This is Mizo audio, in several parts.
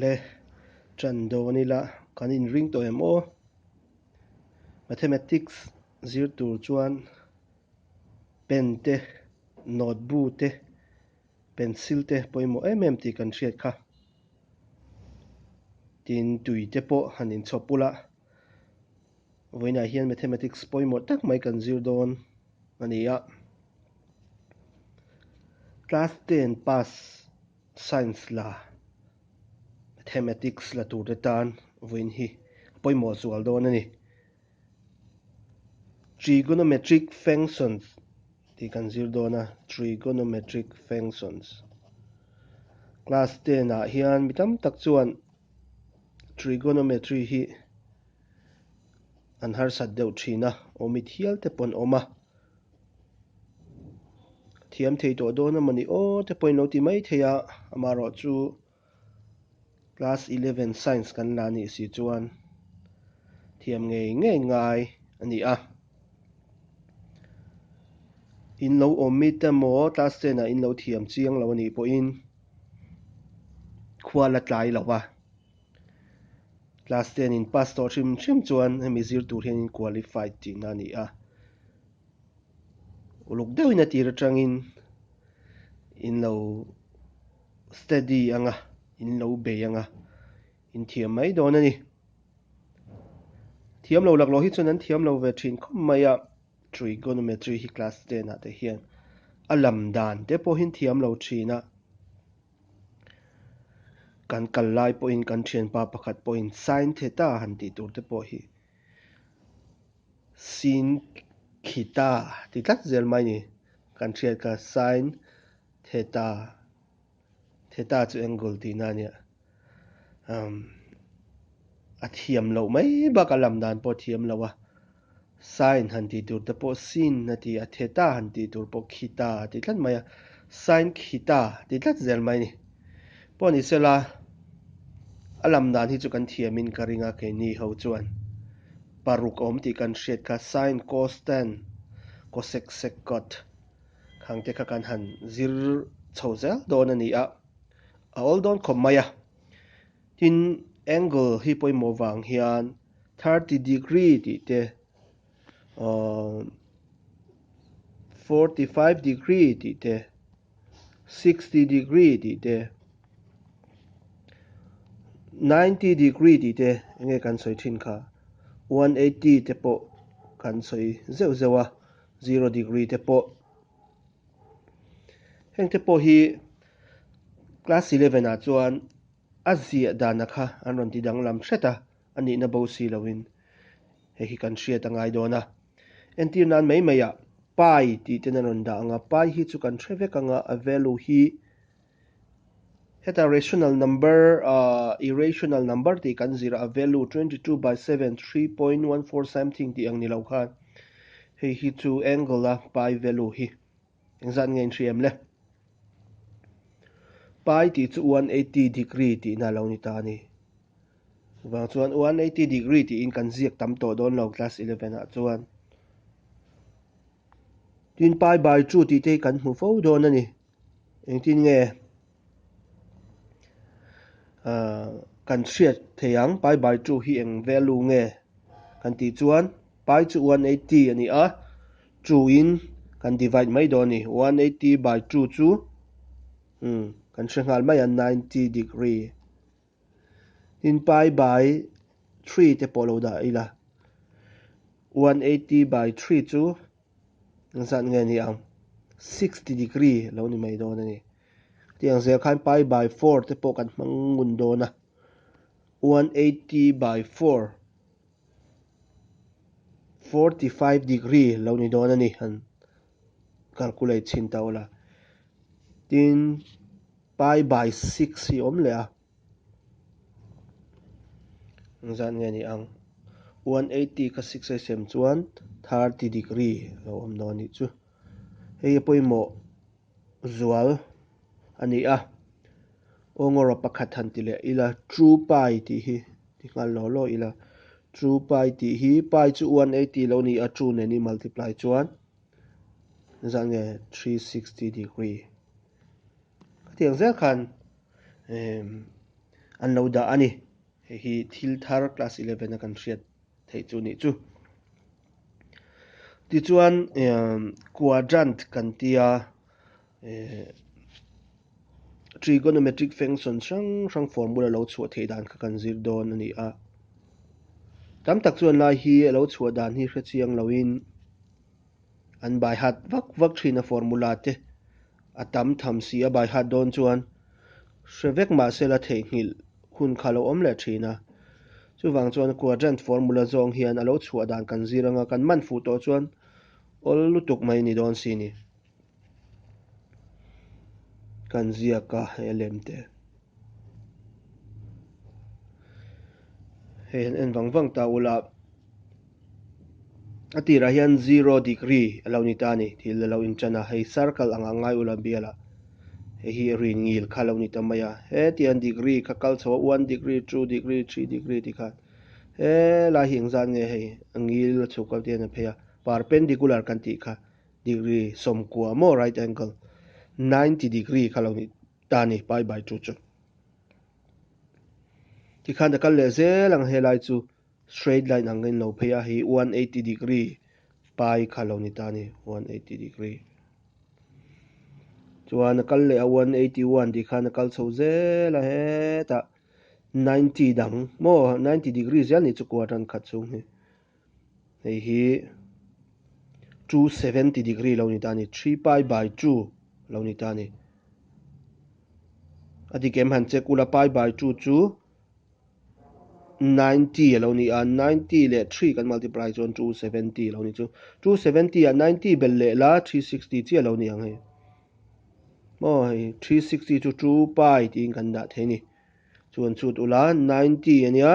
Le tan dawn ila kan inring tawh em aw? Mathematics zir tur chuan pen te note bu te pencil te pawimawh em em tih kan hriat kha tin tui te pawh han in chhawp ula vawiinah hian mathematics pawimawh tak mai kan zir dawn a ni a class ten pass Science la, Mathematics la tur te tan vawiin hi a pawimawh zual dawn a ni. Trigonometric functions tih kan zir dawn a, Trigonometric functions. Class ten ah hian mi tam tak chuan Trigonometry hi an harsat deuh thin a, awm it hial te paw'n awm a. thiam thei tawh dawn a mawni aw te pawhin lo ti mai thei a, amaherawh chu class eleven science kan la nih si chuan thiam ngei ngei ngai a ni a, in lo awm mi te maw class ten ah in lo thiam chiang lo a nih pawhin khua la tlai lo a. Class ten in pass tawh hrim hrim chuan hemi zir tur hian in qualified tihna a ni a. Uluk deuhin a tir atangin in lo steady anga, in lo bei anga in thiam mai dawn a ni. Thiam lo lakloh hi chuan an thiam lo ve thin khawp mai a, trigonometry hi class ten ah te hian a lam dan te pawhin thiam lo thin a. kan kal lai pawhin kan thianpa pakhat pawhin sign theta han tih tur te pawh hi sin khita ti tlat zel mai ni kan thiat kha sign theta theta chu angle tihna nia um a thiam lo mai bak a lam dan pawh thiam lo a Sign han tih tur te pawh Sin a ti a, Theta han tih tur pawh Khita a ti tlat mai a, Sign Khita ti tlat zel mai a ni. Pawh a ni se la, a lam dan hi chu kan thiam in ka ring a, keini ho chuan paruk a awm tih kan hriat kha, Sign Cos Tan, Cosec Sec Cot, khang te kha kan han zir chho zel dawn a ni a, a awl dawn khawp mai a. Tin, angle hi pawimawh vang hian thirty degree tih te, forty five degree tih te, sixty degree tih te, ninety degree tih te enge kan sawi thin kha. One eighty te pawh kan sawi zeuh zeuh a, zero degree te pawh. Heng te pawh hi class eleven ah chuan A ziah dana kha an rawn ti danglam hret a, a nihna bo si loin hei hi kan hriat a ngai dawn a. Entir nan mai mai ah Pai tih ten an rawn dah ang a, Pai hi chu kan hre vek ang a, a value hi heta rational number ah irrational number tih kan zir a, a value twenty two by seven, three point one four something tih ang ni lo khan hei hi chu angle a Pai value hi. Engzat nge inhri em le? Pai tih chu 180 degree tih na lo ni ta ni. Vang chuan 180 degree tih in kan ziak tam tawh dawn lo class 11 ah chuan. Tin pai by 2 tih te kan hmu fo dawn a ni. Engtin nge? kan hriat theih ang pai bai tu hi eng vek lu nge kan tih chuan pai chu one eighty a ni a two in kan divide mai dawn a ni one eighty by two chu kan hre nghal mai a ninety degree. Tin pi by three te pawh lo dah ila, one eighty by three chu zan nge ni ang, sixty degree lo ni mai dawn a ni. Tih ang zel khan pi by four te pawh kan hmang ngun dawn a, one eighty by four, forty five degree lo ni dawn a ni, han calculate chhin ta ula. Tin Pi by six hi awm leh a, eng zat nge ni ang. One eighty ka six a i sem chuan thirty degree a lo awm dawn a nih chu. Hei hi pawimawh zual a ni a. Aw ngawrah pakhat han ti leh ila two pi tih hi ti nghal lo lo ila. Two pi tih hi pi chu one eighty lo ni a, two nen i multiply chuan eng zat nge three sixty degree. Ka tiang zel khan emm an lo dah a ni. Hei hi thil thar class eleven a kan hriat theih chu nih chu. Tichuan emm quadrant kan ti a, eeh trigonometric function hrang hrang formula lo chhuah theih dan kha kan zir dawn a ni a. Tam tak chuan lai hi a lo chhuah dan hi hre chiang lo in. An baihat vak vak thin a formula te a tam tham si a baihat dawn chuan hre vek mahsela theihnghilh hun kha lo awm leh thin a. Chuvang chuan quadrant formula zawng hian a lo chhuah dan kan zir anga kan man fuh tawh chuan awl lutuk mai ni dawn si ni. Kan ziaka he lem te he han en vang vang ta ula a tirah hian zero degree a lo ni ta a ni thil a lo inṭan a hei circle ang a ngai ula bial a hei hi rin ngil kha a lo ni ta mai a hetiang degree kha kal chho a one degree two degree three degree tih khan he lai hi engzat nge hei a ngil a chhuk kal te hian a phei a perpendicular kan tih kha Degree, sawmkua maw right angle? Ninety degree kha lo ni ta ni pai by two chu. Tikhan ta kal leh zel ang helai chu straight line ang in lo phei a hi one eighty degree pai kha lo ni ta ni one eighty degree. Chuan a kal leh a one eighty one tikhan a kal chho zel a he ta ninety dang maw ninety degree zel ni chu quarter khat chung hi. hei hi two seventy degree lo ni ta ni three pi by two lo ni ta ni a dik em han check ula pi by two chu ninety a lo ni a ninety leh three kan multiply chuan two seventy lo ni chu two seventy ah ninety bel leh la three sixty chiah lo ni ang hei maw hei three sixty chu two pi tiin kan dah thei ni chuan chut ula ninety ania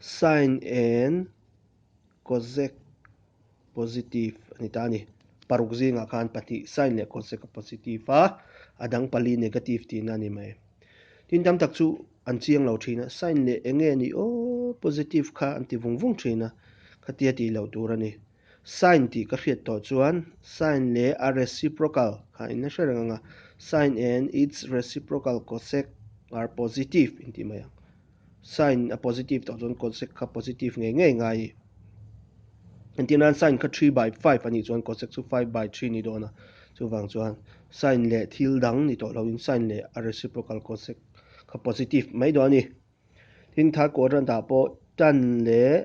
Sign and Kawsek positive a ni ta a ni. Paruk zingah khan pahnih sign leh kawseka positive a, a dang pali negative tihna a ni mai. Tin tam tak chu an chiang lo thin a, sign leh enge ni aw positive kha an ti vung vung thin a, khatia tih loh tur a ni. Sign tih ka hriat tawh chuan sign leh a reciprocal kha inla hre reng ang a, sign and its reciprocal cosec are positive intih mai ang. Sign a positive tawh chuan cosec kha positive ngei ngei ngai i. Engtin aran sign kha three by five a nih chuan cosec chu five by three ni dawn a, chuvang chuan sign leh thil dang ni tawh loin sign leh a reciprocal cosec kha positive mai dawn a ni. Tin tha kawr atan dah pawh tan leh.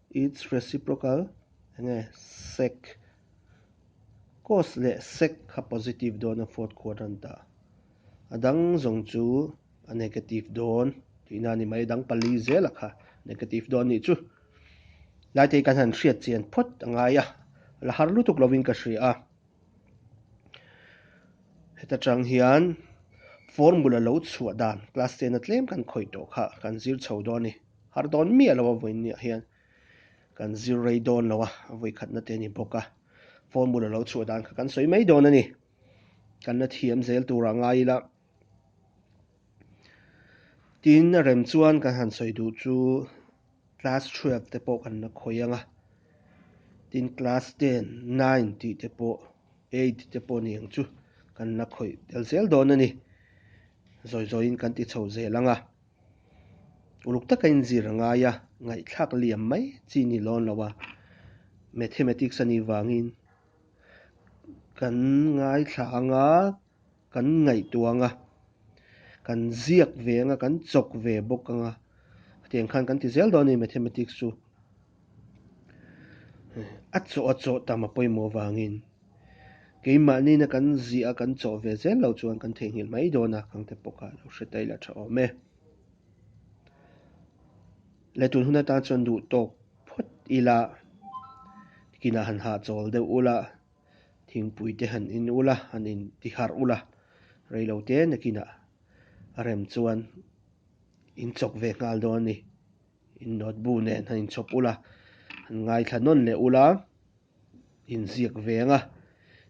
It's reciprocal enge sec cos leh sec kha positive dawn a fourth quadrant ah a dang zawng chu a negative dawn tihna ni mai dang pali zel ah kha negative dawn nih chu laitei kan han hriat chian phawt a ngai a la har lutuk lovin ka hria a heta chang hian formula lo chhuah dan class ten a tlem kan khawih tawh kha kan zir chho dawn ni Harh dawn miah lo a vawi ni ah hian kan zir rei dawn lo a, a vawi khatna te a ni bawk a, phone bula lo chhuah dan kha kan sawi mai dawn a ni. Kan la thiam zel tur ah ngai ila tin a rem chuan kan han sawi duh chu class twelve te pawh kan la khawih ang a, tin class ten, nine tih te pawh, eight te pawh ni ang chu kan la khawih tel zel dawn a ni, zawi zawi in kan ti chho zel ang a. Uluk taka in zir a ngai a, ngaihthlak liam mai chi ni lawn lo a, Mathematics a nih vangin kan ngaithla ang a, kan ngaihtuah ang a, kan ziak ve ang a, kan chawk ve bawk ang a, hetiang khan kan ti zel dawn a ni Mathematics chu. a chawh a chawh tam a pawimawh vangin keimahniin a kan ziah a kan chawh ve zel lo chuan kan theihnghilh mai dawn a, kangte pawkah a lo hre ta ila tha awm e. Letun hun atan chuan duh tawk phawt ila kinah han hahchawl deuh ula, thingpuite han in ula, han in ti harh ula, reilo te nakinah a rem chuan in chawk ve nghal dawn a ni. In nawt bu nen han in chhawp ula, han ngaithla nawn leh ula, in ziak veng a,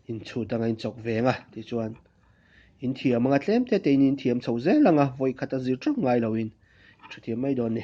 in chhut anga in chawk veng a tih chuan in thiam anga tlem tete in in thiam chho zel anga vawi khat a zir teuh ngai lo in thu thiam mai dawn ni.